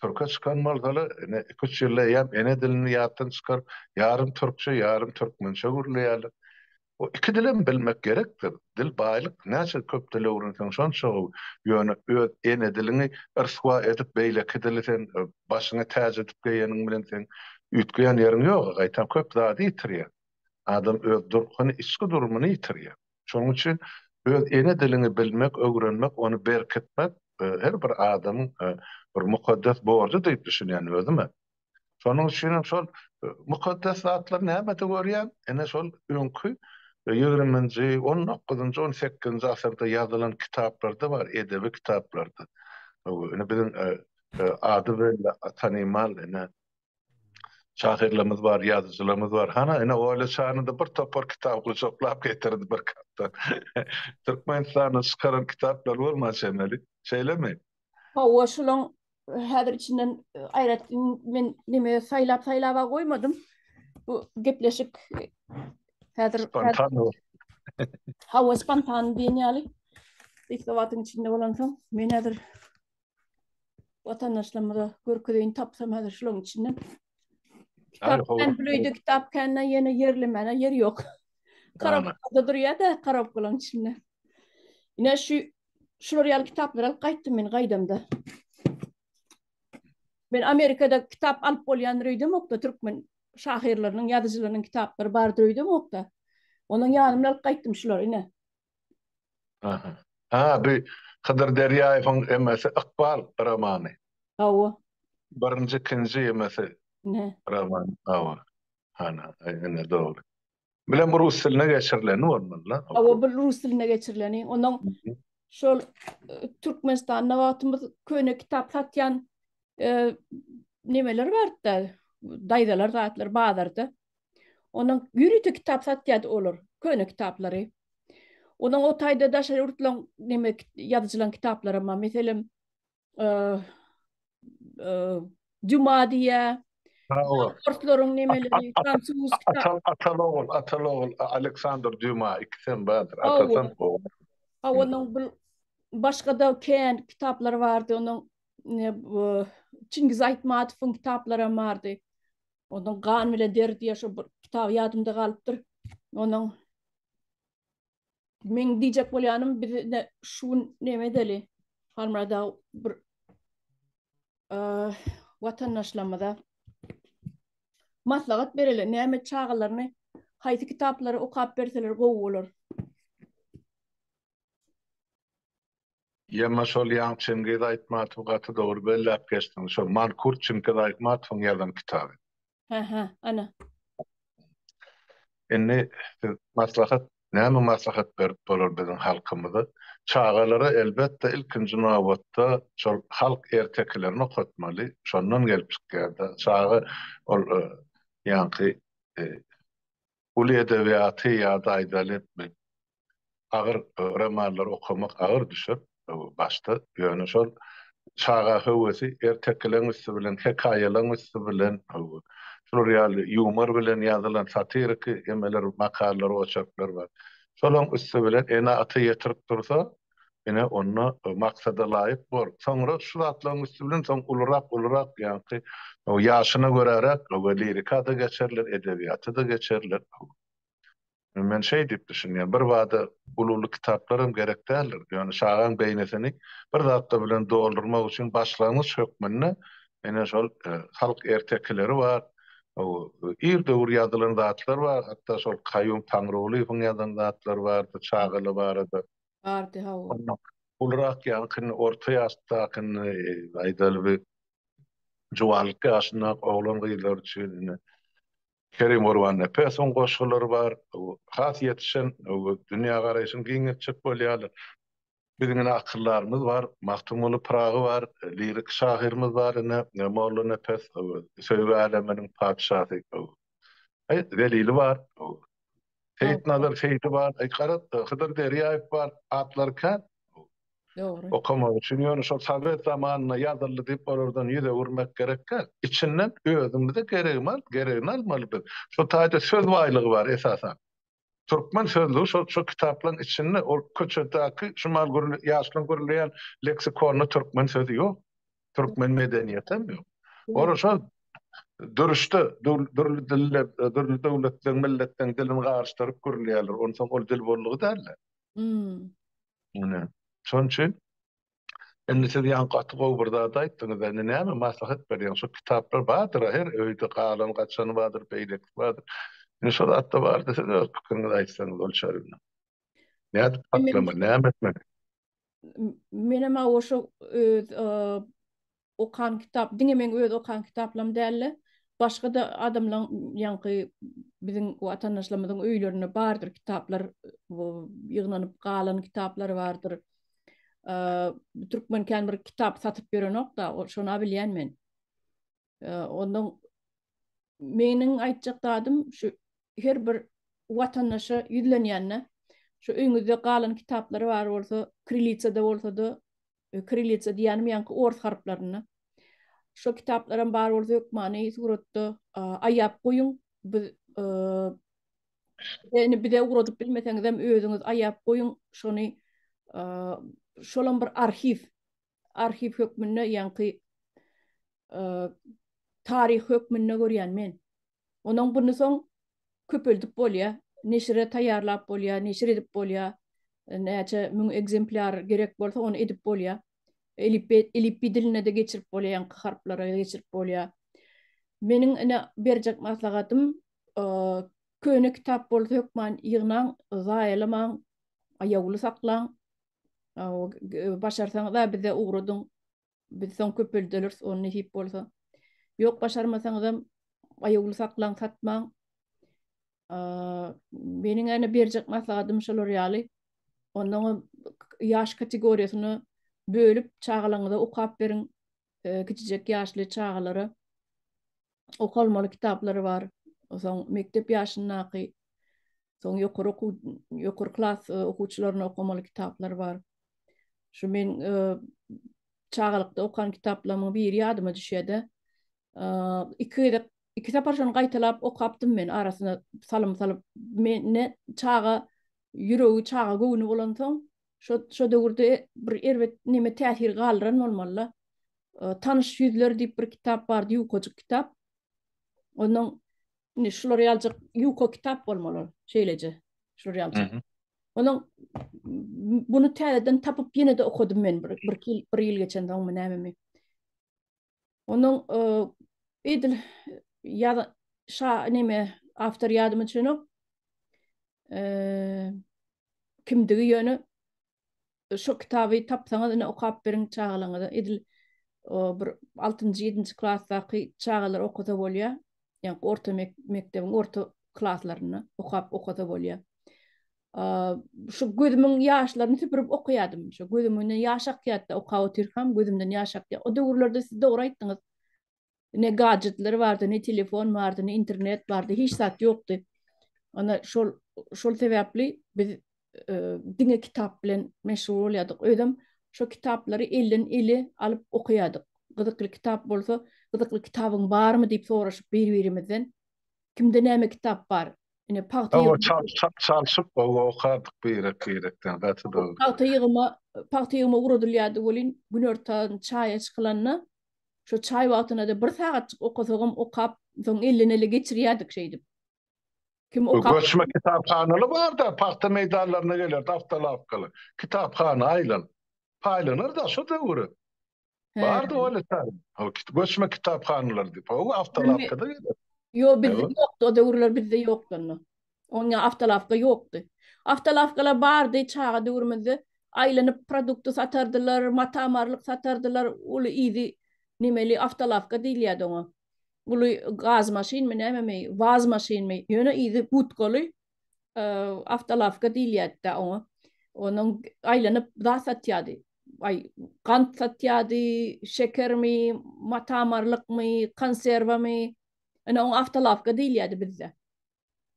türke çykan bolsalar, ine, iki-üç ýylda eýýäm ene dilini ýatdan çykaryp, ýarym türkçe, ýarym türkmençe gürleýärler. Bu iki dilem bilmek gerekdir. Dil baýlyk. Näçe köp dil öwrenseň, şonça gowy. Ýöne öz ene diliňi ryswa edip, beýleki dili sen başyňa täç edip geýeniň bilen sen üýtgeýän ýeriň ýog-a, gaýtam köp zady ýitirýäň. adam öz durkuny, içki durumyny ýitirýär. Şonuň üçin öz ene diliňi bilmek, öwrenmek, ony berkitmek her bir adamyň bir mukaddes borjy diýip düşünýän özüme. Şonuň üçin hem şol mukaddes zatlary nämede görýän? Ene şol öňki ýigriminji, on dokuzynjy, on sekizinji asyrda ýazylan kitaplarda bar, edebi kitaplarda. Ine biziň ady bilen tanymal ene şahyrlarymyz bar, ýazyjylarymyz bar. Hana, ine, Oýly şanyň-da bir topar kitaby gujaklap getirdi bir gatda. Türkmenistanda çykaran kitaplary bolman çemeli. Şeýlemi? Hawa, şolaň häzir içinden aýratyn men neme saýlap-saýlaba goýmadym. Bu gepleşik häzir Spontan bolup. Hawa, spontan diýen ýaly. Ilki wagtyň içinde bolansoň, men häzir Watandaşlarymyza görkezeýin tapsam häzir şularyň içinden. Kitap kän büleýde kitap kände ýene ýerlemene ýer ýok. Karabukada durýar-da karabukalaryň içinde. Ine şu şular ýaly kitaplar alyp gaýtdym men gaýdamda. Men Amerikada kitap alyp bolýandyr öýdemokda türkmen şahyrlarynyň, ýazyjylarynyň kitaplary bardyr öýdemokda. Onuň ýanymdan alyp gaýtdym şulary ine. Aha. Ha, bi Hydyr Derýaýewiň emesi Ykbal romany. Hawa. Birinji, ikinji emesi. Ne. Romany. Hawa. Hana, ine dogry. Bilen bu rus diline geçirileni bolmaly-la. Hawa, bu rus diline geçirileni. Onuň şol Türkmenistanda wagtymyz köne kitap satýan nemeler bardy-da, daýzalar zatlar bazarda. Onuň ýörite kitap satýardy olar, köne kitaplary. Onuň o taýda daşary ýurtlaryň neme ýazyjylaryň kitaplaram bar. Meselem, Dýuma diýýä. Hawa. Orslaryň nemeleri, fransuz kitap. Atan ogul, atan ogul Aleksandr Dýuma ikisem bardyr. Atasam ogul. Hawa, onuň bir başga-da kän kitaplary bardy. Onuň Çingiz Aýtmatowyň kitaplaram bardy. Onuň gan bilen deri diýen şu bir kitaby ýadymda galypdyr. Onuň Meň diýjek bolýanym biz ine şu gün näme edeli? Halmyrada bir watandaşlarymyza maslahat bereli, näme çagalaryny haýsy kitaplary okap berseler gowy bolar. Ýerine şol Ýaň Çingiz Aýtmatowy gaty dogry belläp geçdiň. Şol Mankurt Çinkiz Aýtmatowyň ýazan kitaby. Hä hä, ana. Indi siz maslahat, näme maslahat berip bolar biziň halkymyza? Çagalara elbetde ilkinji nobatda şol halk ertekilerini okatmaly. Şondan gelip çykýar-da. Çaga ol ýaňky Uly edebiýaty ýa-da aýdaly etmek agyr, romanlary okamak agyr düşer başda, ýöne şol çaga höwesi ertekileň üsti bilen, hekaýalaň üsti bilen, şular ýaly ýumor bilen ýazylan satiriki emeler, makallalar, oçerkler bar. Şolaň üsti bilen ene-ata ýetirip dursa, ine, onda maksada laýyk bol. Soňra şu zatlaryň üsti bilen soň ulurak, ulurak, ýaňky ýaşyna göräräk lirika-da geçerler, edebiýata-da geçerler. Men şeý diýip düşünýän, birbada uly-uly kitaplaram gerek däldir. Ýöne çagaň beýnisini bir zatlar bilen doldurmak üçin başlangyç hökmünde ine şol halk ertekileri bar, ir döwür ýazylan zatlar bar, hatda şol Kaýum Taňrygulyýewiň ýazan zatlary bardy çagalar barada. Bardy hawa. Ulurak ýaňky orta ýaşdaky aýdaly bir juwanlyk ýaşyndaky oglan gyzlar üçin indi Kerim Gurbannepesowyň goşgulary bar. Has ýetişen dünýä garaýşyny giňeltjek bolýarlar. Biziň indi akyldarymyz bar. Magtymguly Pyragy bar. Lirik şahyrymyz bar indi Mollanepes söýgi äleminiň patyşasy Zelili bar. Seýitnazar Seýdi bar, garat-da, Hydyr Derýaýew bar, atlary kän. Dogry. Okamak üçin, ýöne şol sowet zamanynda ýazyldy diýip, olardan ýüz öwürmek gerek däl. Içinden özümize geregini alyp, geregini almaly biz. Şu taýda söz baýlygy bar esasan. Türkmen sözlügi şol, şol kitaplaryň içinde, ol köçedäki şumal gürleýän, ýaşlaryň gürleýän leksikonyna türkmen sözi ýok. türkmen medeniýeti hem ýok. Ol şo duruşda dürli diller, dürli döwletleň, milletleriň dilini garyşdyryp gürleýärler. Onsoň ol dil boldugy däldir. Ine, şonuň üçin Indi siz ýaňky gaty gowy bir zat aýtdyňyz. Indi näme maslahat berýäňiz? Şu kitaplar bardyr, her öýde galan gaçany bardyr, beýleki bardyr. Indi şol atda bardyr, siz öz pikiriňizi aýtsaňyz ol çäginde. Nädip saklamaly, näme etmeli? menem aw oşo öz okan kitap, diňe meň öz okan kitaplarym dälde, başga-da adamlaryň ýaňky biziň watandaşlarymyzyň öýlerinde bardyr kitaplar, bu ýygnanyp galan kitaplary bardyr. Türkmen kän bir kitap satyp ýörenok-da, şony-a bilýän men. Ondan meniň aýtjak zadym şu her bir watandaşa ýüzlenýände şu öýüňizde galan kitaplar bar bolsa krilitsada bolsada krilitsa diýýänim ýaňky ors harplarynda şo kitaplaram bar bolsa hökmany suratda aýap goýuň biz ýöne bize ugradyp bilmeseňizem özüňiz aýap goýuň şony şolam bir arhiw arhiw hökmünde ýaňky taryh hökmünde görýän men. Onuň buny soň köpeldip bolýar, neşire taýýarlap bolýar, neşir edip bolýar. Näçe müň ekzemplýar gerek bolsa, ony edip bolýar. Elipbe elipbiý diline-de geçirip bolýar, ýaňky harplara-da geçirip bolýar. Meniň ine berjek maslahatym, köne kitap bolsa hökman ýygnaň, zaýalamaň, aýawly saklaň. Başarsaňyz-a bize ugradyň. Biz soň köpelderis ony nesip bolsa. Ýok, başarmasaňyzam aýawly saklaň, satmaň. Meniň ene berjek maslahatym şolar ýaly. Onnoňam ýaş kategoriýasyna bölüp çagalaňyza okap beriň. Kiçijek ýaşly çagalara. okalmaly kitaplary bar. Soň mekdep ýaşyndaky, soň ýokary okuw, ýokary klas okuwçylaryna okamaly kitaplary bar. Şu men çagalykda okan kitaplarymyň biri ýadyma düşýär-de, iki gezek, iki sapar şony gaýtalap okapdym men, arasyna salym salyp. Mende çaga ýüregi, çaga göwni bolansoň, şo döwürde bir erbet neme täsir galdyran bolmaly-da. Tanyş ýüzler diýip bir kitap bardy, ýukajyk kitap. Onuň indi şular ýaljak ýuka kitap bolmaly ol, şeýleje. Şular ýaljak. Onuň bunu täzeden tapyp ýene-de okadym men bir bir bir ýyl geçen soňmy nämemi. Onuň edil ýa şa neme awtor ýadyma düşenok. Eee kimdigi ýöne Şo kitaby tapsaňyz ine okap beriň çagalaňyza edil bir altynjy ýedinji klasdaky çagalar okasa bolýa ýa orta mekdebiň orta klaslaryna okap okasa bolýa şu gözümiň ýaşlaryny süpürip okaýadym şu gözümden ýaş akýatda okap otyrkam gözümden ýaş akýa o döwürlerde siz dogry aýtdyňyz ne gadjetleri bardy, ne telefon bardy, ne internet bardy, hiç zat ýokdy. Onda şol şol sebäpli biz diňe kitap bilen meşgul bolýardyk. Özüm şu kitaplary elden ele alyp okaýardyk. Gyzykly kitap bolsa, gyzykly kitabyň barmy diýip soraşyp bir-birimizden. Kimde näme kitap bar? Ine pagta ýygyp çalşyp okardyk birek-birekden gaty dogry. Pagta ýygyma, pagta ýygyma ugradylýardy welin günortan çaýa çykylanda Şo çaý wagtyna-da bir sagatjyk okasagam okap, soň elden-ele geçirýärdik şeýdip. Kim okap. Göçme kitaphanaly bar-da, pagta meýdanlaryna gelerdi awtolawkaly. Kitaphana aýlan. Paýlanar-da şo döwür. Bardy ol-a çaý. Hol göçme kitaphanalar diýip, howwa awtolawkada gelerdi. Ýok, bizde ýokdy, o döwürler bizde ýokdy onda. Onda awtolawka ýokdy. Awtolawkalar bardy, çaga döwrümizde aýlanyp produkty satardylar, mata-marlyk satardylar, uly yzy nemeli awtolawka diýilýärdi oňa. Uly gaz maşynmy, nämemi, waz maşynmy, ýöne yzy budkaly awtolawka diýilýärdi-dä oňa. Onuň aýlanyp zat satýardy. Aý, gant satýardy, şekermi, mata-marlykmy, konserwamy. Ine, oňa awtolawka diýilýärdi bizde.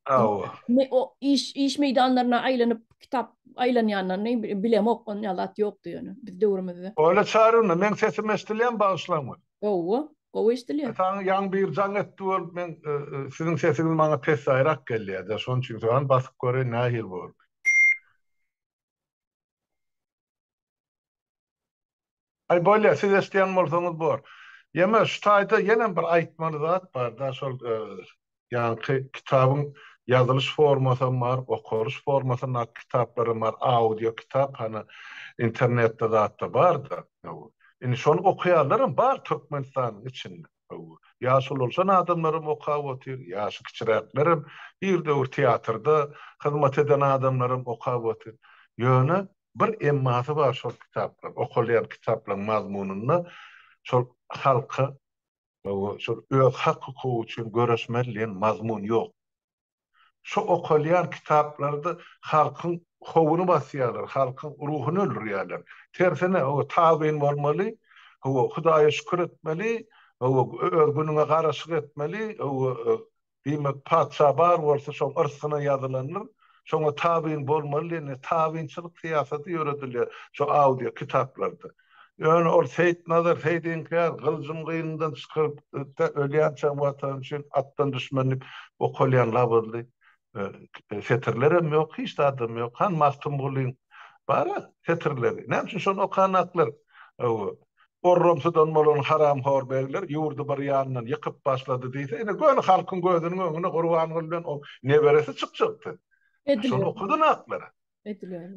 Hawa. Me o iş iş meýdanlaryna aýlanyp kitap aýlanýanyny bilemok on ýalat ýokdy ýöne biz döwrümizde. Oýla çarynda meň sesim eşdilýämi bagyşlaňmy? Gowy, gowy eşdilýär. Saňa ýaň bir jaň etdi bolup men siziň sesiňiz maňa pessaýrak gelýärde şoň üçin soran basyp göreýin nähili boldy. Aý bolýa siz eşdýän bolsaňyz bor. Ýeme şu taýda ýenem bir aýtmaly zat barda şol ýaňky kitabyň ýazylyş formasam bar okalyş formasynda kitaplaram bar audio kitap hany internetde zatda barda indi şony okaýanlaram bar Türkmenistanyň içinde ýaşululşan adamlaram okap otyr ýaşy kiçiräklerem ir döwür teatrda hyzmat eden adamlaram okap otyr ýöne Bir emmasy bar şol kitaplar, okalýan kitaplaryň mazmunynda şol halka şol öz hak-hukugy üçin göreşmeli diýen mazmun ýok. Şu okalýan kitaplarda halkyň howuny basýarlar, halkyň ruhuny öldürýärler. Tersine, hawa, tabyn bolmaly, hawa, Hudaýa şükür etmeli, hawa, öz günüňe garaşyk etmeli, hawa, Diýmek, patyşa bar bolsa, şoň yrsgyna ýazylandyr, şoňa tabyn bolmaly diýende, tabynçylyk syýasaty ýöredilýär şu audio kitaplarda. Ýöne ol Seýitnazar Seýit inkär gyljyny gynyndan çykarypdy-da, ölýänçäň Watan üçin atdan düşmänlik okalýan labyzly setirlerem ýok, hiç zadam ýok. Han Magtymgulyň bar-a setirleri. Näme üçin şony okanaklar? Hawa, Gorramsydan bolan haramhor begler ýurdy bir ýandan ýykyp başlady diýse, ine, göni halkyň gözüniň öňüne Gurbanguly bilen oň neberesi çykjakdy. Şony okadyň aklary.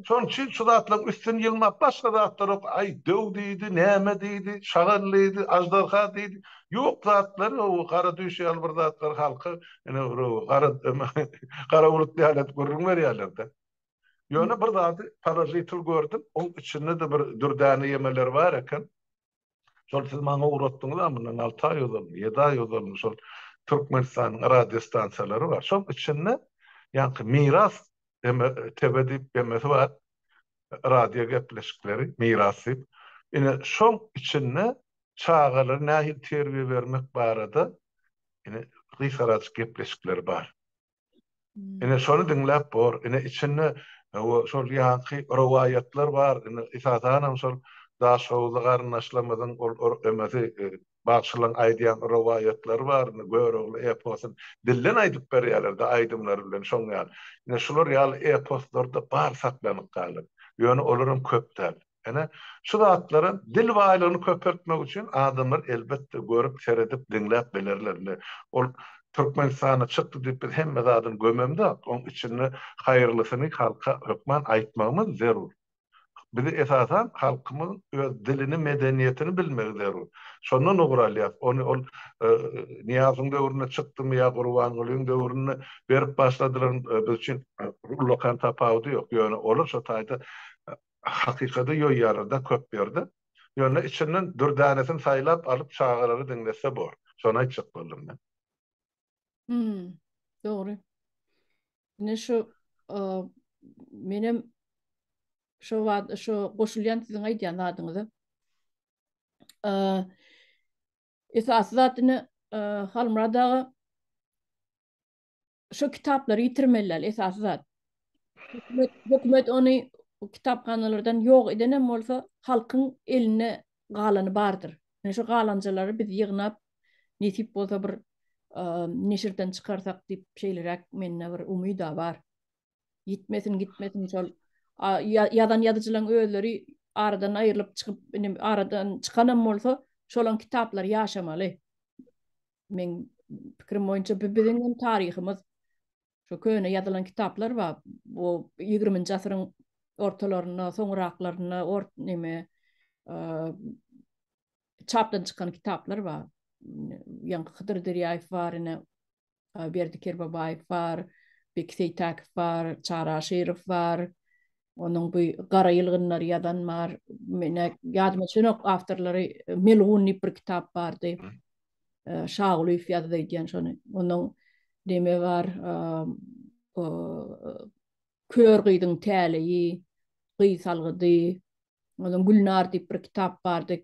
Şonuň üçin şu zatlaryň üstüni ýylmap, başga zatlarok, aý, döw diýdi, näme diýdi, şagal diýdi, aždarha diýdi, ýok zatlar, o gara düýş ýaly bir zatlar halka, ine, bir gara, gara bulut ýaly edip gürrüň berýärler-de. Ýöne bir zady parazitil gördüm, oň içinde-de bir dürdäne ýemeler bar eken. Şol siz maňa ugratdyňyz-a mundan alty aý ozal, ýedi aý ozal şol Türkmenistanyň radio stansiýalary bar. Şoň içinde ýaňky Miras TW diýip ýemesi bar. Radio gepleşikleri, Miras diýip. Ine, şoň içinde çagalara nähili terbiýe bermek barada ine gysgajyk gepleşikler bar. Ine şony diňläp bor. Ine içinde şol ýanky rowaýatlar bar. Ine esasanam şol Daşoguzly garyndaşlarymyzyň ol emesi bagşylaryň aýdýan rowaýatlary bar. Ine Görogly eposyny dilden aýdyp berýärler-de aýdymlary bilen şoň ýaly. Ine şular ýaly eposlarda bar saklanyp galan. Ýöne olaram köp däl. Ine, şu zatlara dil baýlygyny köpeltmek üçin adamlar elbetde görüp, seredip, diňläp bilerler. Indi ol Türkmenistanda çykdy diýip biz hemme zadyny gömemzok. Oň içinde haýyrlysyny halka hökman aýtmagymyz zerur. Bizi esasan halkymyzyň öz dilini, medeniýetini bilmegi zerur. Şondan ugur alýas. Ony ol Nyýazyň döwründe çykdymy ýa Gurbangulyň döwründe berip başladylarmy biz üçin ullakan tapawudy ýok. Ýöne olar şo taýda Hakykady ýoýýarlar-da köp ýerde. Ýöne içinden dürdanesini saýlap alyp çagalary diňletse bor. Şony aýtjak boldum men. Hum. Dogry. Ine şu menem şo wagt şo goşulýan siziň aýdýan zadyňyza. Esasy zat ine Halmyrat aga Şo kitaplary ýitirmeliler esasy zat. Hökümet hökümet ony kitaphanalardan ýok edenem bolsa halkyň elinde galany bardyr. Ine şo galanjalary biz ýygnap nesip bolsa bir neşirden çykarsak diýip şeýleräk mende bir umyda bar. Gitmesin, gitmesin şol. Ýazan ýazyjylaryň özleri aradan aýrylyp çykyp, indi aradan çykanam bolsa, şolaň kitaplar ýaşamaly. Men pikirim boýunça bu biziň hem taryhymyz. Şu köne ýazylan kitaplar bar. Bu 20-nji asyryň ortalarynda, soňraklarynda, ort neme, çapdan çykan kitaplar bar. Ýaňky Hydyr Derýaýew bar, ine Berdi Kerbabaýew bar, Beki Seýtäkow bar, Çary Aşyrow bar. Onuň bu Gara ýylgynlary ýazan bar. Mene ýadyma düşenok awtorlary Melgun diýip bir kitap bardy. Şagulyýew ýazdy öýdýän şony. Onuň deme bar, Kör gyzyň täleýi, Gyz salgydy, Ondan Gülnar diýip bir kitap bardy.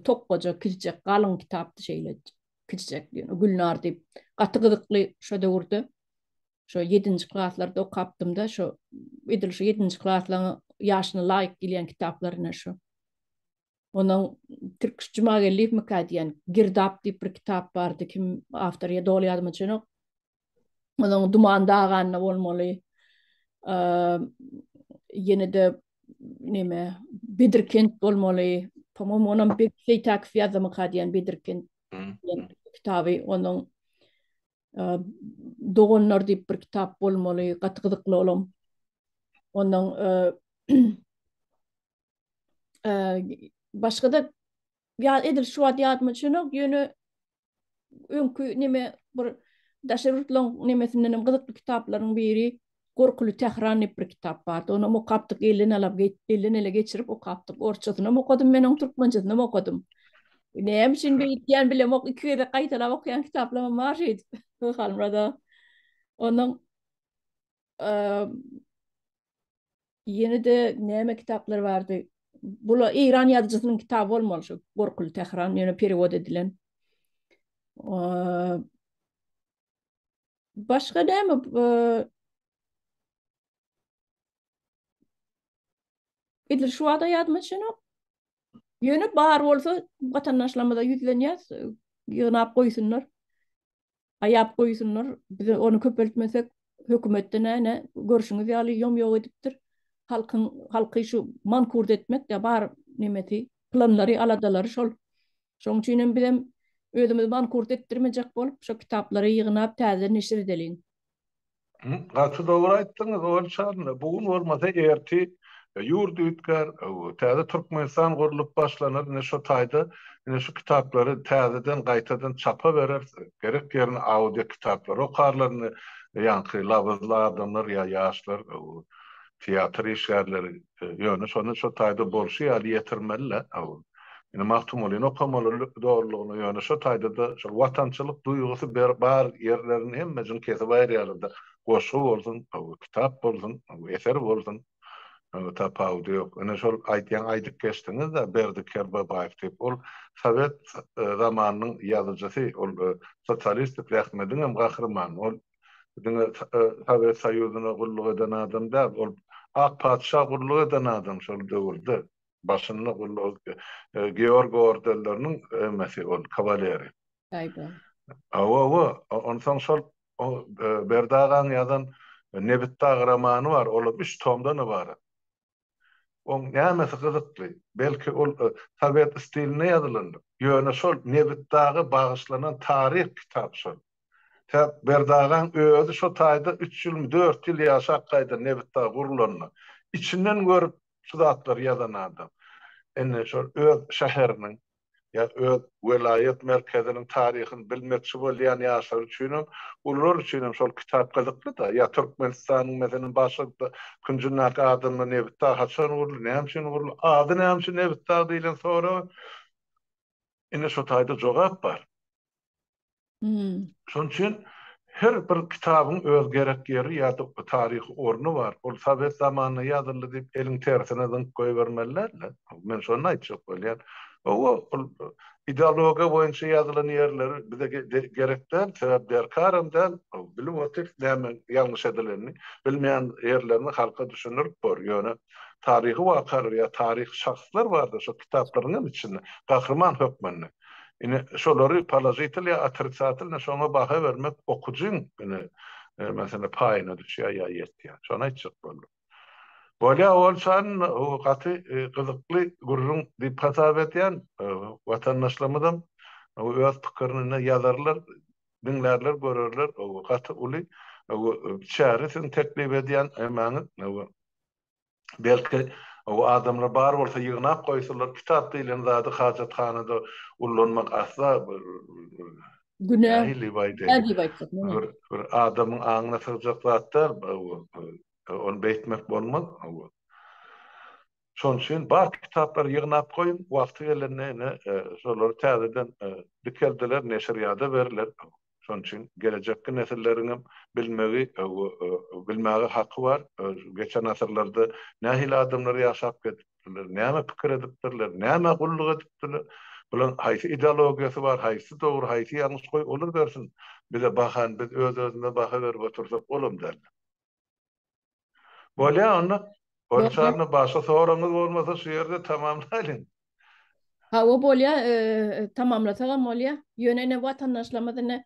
Tokgaja kiçijek galyň kitapdy şeýle kiçijek. Gülnar diýip gaty gyzykly şo döwürde şo 7-nji klaslarda okapdym-da şo edil şo 7-nji klaslaryň ýaşyna laýyk gelýän kitaplaryna şo. Onuň Türk Jumageldiýewmikä diýen Girdap diýip bir kitap bardy. Kim awtor ýa doly ýadyma düşenok. Onuň duman daganda bolmaly. Ýene-de neme, Bedirkent bolmaly. Pomom onam bir Seýtäk Fiýazamyka diýen Bedirkent diýen kitaby onuň. Doganlar diýip bir kitap bolmaly, gaty gyzykly olam. Onuň başga-da ýa edil şu wagt ýadyma düşenok, ýöne öňki neme bir daşary ýurtlaryň nemesinden hem gyzykly kitaplaryň biri Gorkuly Tähran diýip bir kitap bardy. Onam okapdyk, elden alap, elden ele geçirip okapdyk. Orsçasynam okadym men onuň, türkmençesinem okadym. Näme üçin beýtýän bilemok, iki gezek gaýtalap okaýan kitaplarym bar şeýdip. Halmyrada. Onuň Ýene de näme kitaplar bardy? Bula Eýran ýazyjysynyň kitaby bolmaly şu Gorkul Tähran ýöne perewod edilen. Başga näme Edil şu wada ýadyma düşenok. Ýöne bar bolsa watandaşlarymyza ýüzlenýäs, ýygnap goýsunlar. Aýap goýsunlar, biz ony köpeltmesek, hökümetde näne, görşüňiz ýaly ýom-ýok edipdir. Halkyň, halky şu mankurt etmekde bar nemesi, planlary, aladalary şol. Şoň üçin hem bizem özümizi mankurt etdirmejek bolup, şo kitaplary ýygnap täzeden neşir edeliň. Gaty dogry aýtdyňyz Owal çarynda bu gün bolmasa erti ýurt üýtgär, täze Türkmenistan gurlup başlanar ine şo taýda ine şu kitaplary täzeden gaýtadan çapa bereris, gerek ýerine audio kitaplary okarlar indi ýaňky labyzly adamlar ýa ýaşlar teatr işgärleri Ýöne şony şo taýda bolşy ýaly ýetirmeli-le. Indi Magtymgulyny okamaly dogrulygyna, ýöne şo taýda-da şol watançylyk duýgusy bar ýerlerini hemmejiň kesip aýyrýarlar-da. Goşgy bolsun, kitap bolsun, eser bolsun, tapawudy ýok. Ine şol aýdýan aýdyp geçdiňiz-de, Berdi Kerbabaýew diýip, ol sowet zamanynyň ýazyjysy, ol sosialistik zähmediň hem gahrymany, ol diňe Sowet Soýuzyna gulluk eden adam däl, ol ak patyşa gulluk eden adam şol döwürde, başynda gulluk Georg ordenleriniň emesi ol, kawaleri. Aýbo. Hawa-hawa, onsoň şol Berdi agaň ýazan Nebitdag romany bar, ol hem üç tomdan ybarat. Oň nämesi gyzykly? Belki ol sowet stilinde ýazylandyr? Ýöne şol Nebit daga bagyşlanan taryh kitap şol. Tä Berdagaň özi şo taýda üç ýylmy, dört ýyl ýaşap gaýdan Nebit dag gurulanda. Içinden görüp şu zatlary ýazan adam. Indi şol öz şäheriniň ýa öz welaýat merkeziniň taryhyny bilmekçi bolýan ýaşlar üçinem, ulular üçinem şol kitap gyzykly-da. Ýa Türkmenistanyň, meselem, başga künjündäki adamlar Nebit dagy haçan guruldy, näme üçin guruldy, ady näme üçin Nebit dagy diýlen soraga ine şu taýda jogap bar. Şonuň üçin her bir kitabyň öz gerek ýeri ýa-da taryhy orny bar. Ol sowet zamanynda ýazyldy diýip, eliň tersine zyňyp goýbermeli däl-de. Men şony aýtjak bolýan. Hawa, ol ideologiýa boýunça ýazylan ýerleri bize gerek däl, sebäbi derkaram däl. Bilip otyrys nämeň ýalňyş edilenini. Bilmeýän ýerlerini halka düşündirip bor. Ýöne taryhy wakalar ýa taryhy şahslar bardyr şo kitaplaryň hem içinde, gahryman hökmünde. Ine, şolary položitel ýa otricatelny şoňa baha bermek okyjyň, ine, meselem, paýyna düşýär ýa ýetýär. Şony aýtjak boldum. Bolýar, ol çan gaty gyzykly gürrüň diýip hasap edýän watandaşlarymyzam öz pikirini ine ýazarlar, diňlärler, görerler. Gaty uly çäre siziň teklip edýän emäňiz. Belki, adamlar bar bolsa ýygnap goýsalar, kitap diýlen zady hajathanada ullanmak asla bir günä diýip aýdaýyn. Bir adamyň aňyna sygjak zat däl bu. Ony beýtmek bolmaz. Şonuň üçin bar kitaplary ýygnap goýuň, wagty gelende ine şolary täzeden dikeldiler, neşirýada berler. Şonuň üçin gelejekki nesilleriň hem bilmegi we bilmäge haky bar. Geçen asyrlarda nähili adamlar ýaşap geçipdirler, näme pikir edipdirler, nämä gulluk edipdirler, bularyň haýsy ideologiýasy bar, haýsy dogry, haýsy ýalňyş, goý, olar bersin bize bahany, biz öz-özümize baha berip otursak, olam däl. Bolýa onda. Bolýa. Başga soragyňyz bolmasa şu ýerde tamamlaýlyň. Hawa bolýa, tamamlasagam bolýa. Ýöne ine watandaşlarymyz ine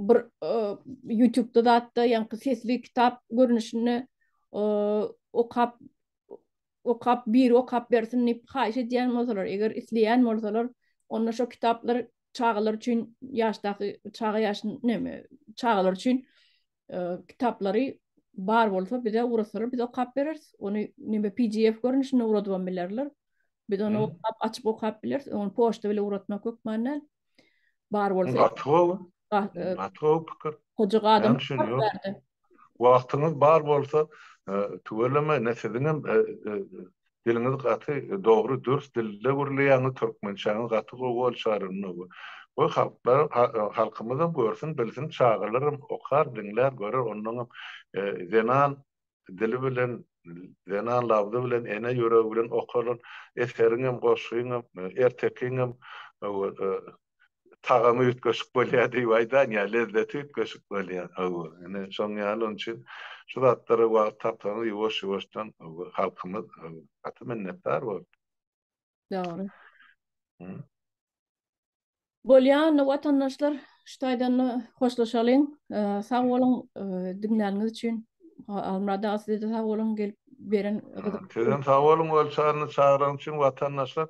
bir ýutubda zatda ýaňky sesli kitap görnüşinde okap okap biri okap bersin diýip haýyş edýän bolsalar, eger isleýän bolsalar, onda şo kitaplar çagalar üçin ýaşdaky çaga ýaşyn neme çagalar üçin kitaplary bar bolsa bize ugrasalar biz okap bereris. Ony neme PDF görnüşinde ugradyp bilerler. Biz ony okap açyp okap bileris. Ony poçta bilen ugratmak hökmanda bar bolsa. Gatyw. Gatyw pikir. Hoja gadym. Wagtyňyz bar bolsa tüweleme ne siziň hem Diliňiz gaty dogry dürs dilde gürleýäňiz türkmençäňiz gaty gowy ol çygarylmyna gowy goý halklar halkymyzam görsün bilsin çagalaram okar diňlär görer onnoňam zenan dili bilen zenan labzy bilen ene ýüregi bilen okalan eseriňem goşgyňam ertekiňem tagamy üýtgeşik bolýar diýip aýdan ýa lezzeti üýtgeşik bolýar hawa ine şoň ýaly oň üçin şu zatlara wagt tapsaňyz ýuwaş ýuwaşdan hawa halkymyz gaty minnetdar bolar. Dogry. Bolýa onda watandaşlar şu taýdanda hoşlaşalyň sag boluň diňläniňiz üçin Halmyrat aga size-de sag boluň gelip beren gyzykly. Sizem sag boluň Ölçaryny çagyranyň üçin watandaşlar.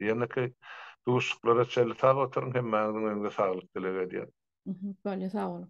Ýeneki duşuşyklara çenli sag oturyň hemmäňiziň öňde saglyk dileg edýän. Bolýa sag boluň.